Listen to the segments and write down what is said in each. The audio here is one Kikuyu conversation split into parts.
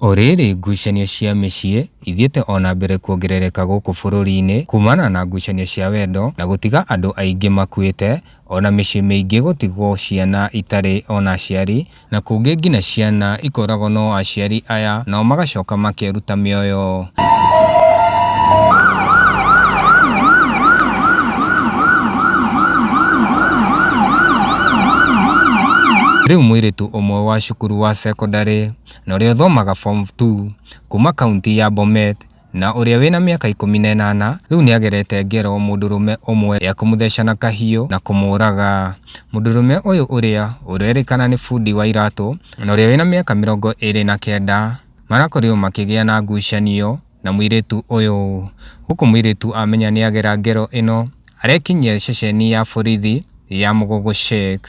O rĩrĩ, ngucanio cia mĩciĩ ithiĩte o na mbere kuongerereka gũkũ bũrũri-inĩ kumana na ngucanio cia wendo na gũtiga andũ aingĩ makuĩte, o na mĩciĩ mĩingĩ gũtigwo ciana itarĩ o na aciari, na kũngĩ nginya ciana ikũragwo no aciari aya nao magacoka makeruta mĩoyo. Rĩu mũirĩtu ũmwe wa cukuru wa cekondarĩ na ũrĩa ũthomaga form 2 kuma kaunti ya Bomet na ũrĩa wĩna mĩaka ikũmi na ĩnana rĩu nĩagerete ngero mũndũrũme ũmwe ya kũmũtheca na kahiũ na kũmũraga. Mũndũrũme ũyũ ũrĩa ũrerĩkana nĩ bundi wa iratũ na ũrĩa wĩna mĩaka mĩrongo ĩrĩ na kenda marakorirwo makĩgĩa na ngucanio na mũirĩtu ũyũ. Gũkũ mũirĩtu amenya nĩagera ngero ĩno arekinyia ceceni ya borithi ya Mũgũgũ Shake.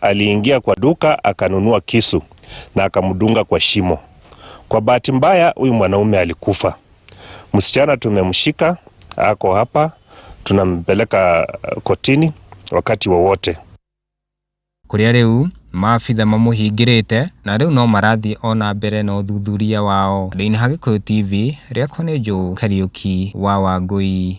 Aliingia kwa duka akanunua kisu na akamdunga kwa shimo. Kwa bahati mbaya, huyu mwanaume alikufa. Msichana tumemshika, ako hapa, tunampeleka kotini wakati wowote. kũrĩa rĩu maabitha mamũhingĩrĩte na rĩu no marathiĩ o na mbere na ũthuthuria wao. Ndĩna Gĩkũyũ TV, rĩakwa nĩ Joe Kariũki wa Wangũi.